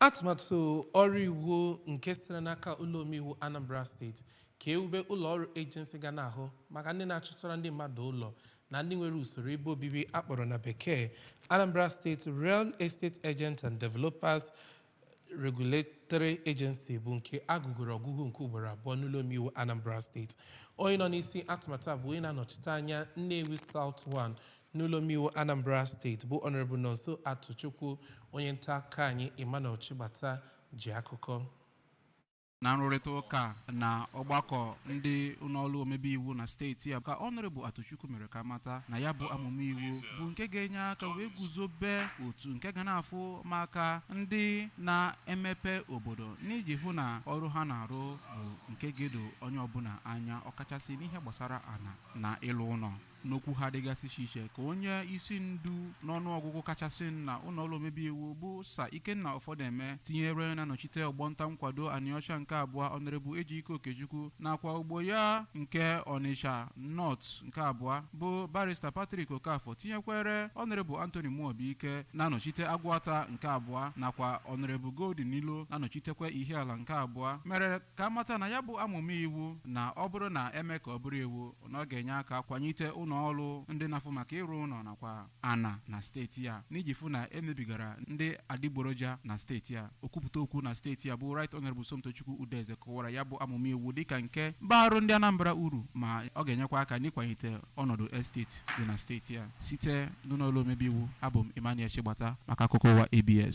atụmatụ ọrụ iwu nke sitere n'aka ụlọ omeiwu anambra steeti ka ewube ụlọ ọrụ ejensi ga na-ahụ maka ndị na-achọtara ndị mmadụ ụlọ na ndị nwere usoro ebe obibi akpọrọ na bekee anambra steeti real estate agent and developers regulatory agency bụ nke agụgoro ọgụgụ nke ugboro abụọ n'ụlọ omeiwu anambra steeti onye nọ n'isi atụmatụ a bụ onye na-anọchite anya nnewi south 1 n'ụlọomeiwu anambra steeti bụ honorable nọnso atụchukwu onye nta akụkọ anyị emmanuel chigbata ji akụkọ na nrụrịta ụka na ọgbakọ ndị ụnọọlụ omebe iwu na steeti ya ka honorable atụchukwu mere ka a mata na ya bụ amụma iwu bụ nke ga-enye aka wee guzobe otu nke ga na-afụ maka ndị na-emepe obodo n'iji hụ na ọrụ ha na-arụ bụ nke ga-edo onye ọbụna anya ọkachasị n'ihe gbasara ana na ịlụ ụnọ N'okwu ha dịgasị iche iche ka onye isi ndu n'ọnụọgụgụ kachasị na ụnọọlụ omebe iwu bụ Sir Ikenna Ofodeme tinyere na-anọchite ọgbọnta nkwado Anịọcha nke abụọ Honorable Ejike Okechukwu nakwa ogbo ya nke Ọnịcha North nke abụọ bụ Barrister Patrick Okafor tinyekwere Honorable Anthony Muobike na-anọchite Aguata nke abụọ nakwa Honorable Golden Iloh na-anọchitekwa Ihiala nke abụọ mere ka a mata na ya bụ amụma iwu na ọ bụrụ na eme ka ọ bụrụ iwu na ọ ga-enye aka kwanyite ụnọ ọrụ ndị na-afụ maka ịrụ ụnọ nakwa ana na steeti ya n'iji fụ na emebigara ndị adịgboroja na steeti ya okwupụta okwu na steeti ya bụ Right Honorable Somtochukwu Udeze kọwara ya bụ amụma iwu dịka nke barụ ndị Anambra uru ma ọ ga-enyekwa aka n'ịkwanyite ọnọdụ esteti dị na steeti ya site n'ụnọ ọlụ omebe iwu abụ m Emmanuel Chigbata maka akụkọ ụwa ABS